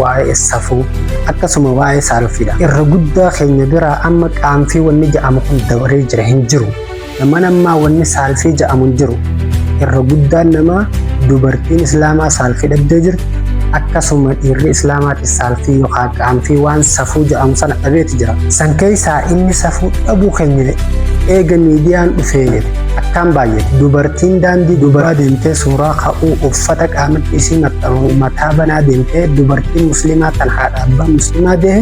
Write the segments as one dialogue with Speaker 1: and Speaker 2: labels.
Speaker 1: waa'ee safuu akkasuma waa'ee saalfiidha. Irra guddaa keenya biraa amma qaanfii wanni ja'amu kun dabaree jira hin jiru. Nama namaa wanni saalfii ja'amu hin jiru. Irra guddaan namaa dubartiin islaamaa saalfii dhabdee jirti. Akkasuma dhiirri islaamaatis saalfii yookaan qaanfii waan safuu ja'amu sana dhabeeti jira. San keessaa inni safuu dhabuu keenya eega miidiyaan dhufee akkaan baay'ate dubartiin daandii dubaraa deemtee suuraa ka'uu uffata qaamatti isii maxxanuu mataa banaa deemtee dubartii muslimaa tan haadha abbaa muslimaa dehe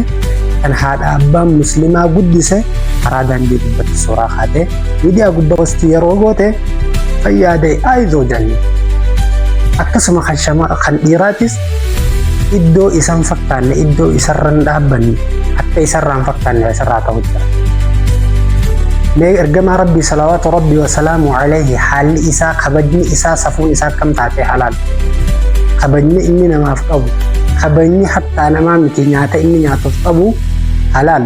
Speaker 1: kan haadha abbaa muslimaa guddise karaa daandii gubbatti suuraa kaatee miidiyaa gubba wasti yeroo goote fayyaadee aayizoo janne akkasuma kan dhiiraatis iddoo isan fakkaanne iddoo isarra hin dhaabbanne akka isarraa hin fakkaanne isarraa ta'u jira. Mee ergamaa rabbii salawaatu rabbii wasalaamu alayhi haalli isaa kabajni isaa safuun isaa akkam taatee halaal. Kabajni inni namaaf qabu kabajni hattaa namaa miti nyaata inni nyaatuuf qabu halaal.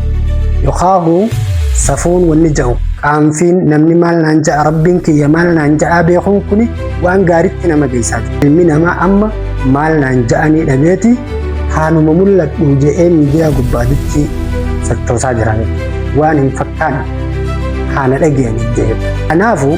Speaker 1: Yokaahu safuun wanni jahu qaanfiin namni maal naan ja'a rabbiin kiyya maal naan ja'aa beekuun kuni waan gaaritti nama geessaati. Ilmi namaa amma maal naan ja'anii dhabeeti haanuma mul'adhu je'ee miidiyaa gubbaatitti sochoosaa jirame waan hin fakkaanne haana dhageenye jechuudha. Kanaafuu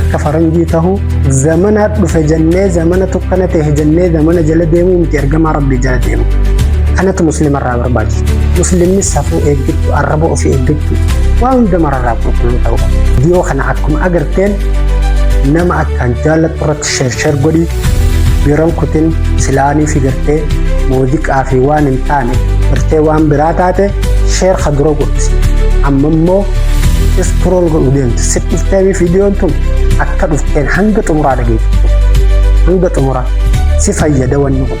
Speaker 1: akka faranjii tahu zamana dhufe jennee zamana tukkana ta'e jennee zamana jala deemuu miti ergamaa rabbii jala deemu kanatu muslima irraa barbaachisa muslimni safuu eeggachuu arraba ofii eeggachuu waa hunda mararraa qulqulluu ta'uu qaba dhiyoo kana akkuma agarteen nama akkaan jaallattu irratti shershar godhi yeroon kutin silaanii fi gartee muuziqaa fi waan hin taane gartee waan biraa taate sheer ka dura godhisi amma immoo iskrool godhu deemte si dhuftee viidiyoon tun akka dhufteen hanga xumuraa dhageeffatu hanga xumuraa si fayyada wanni kun.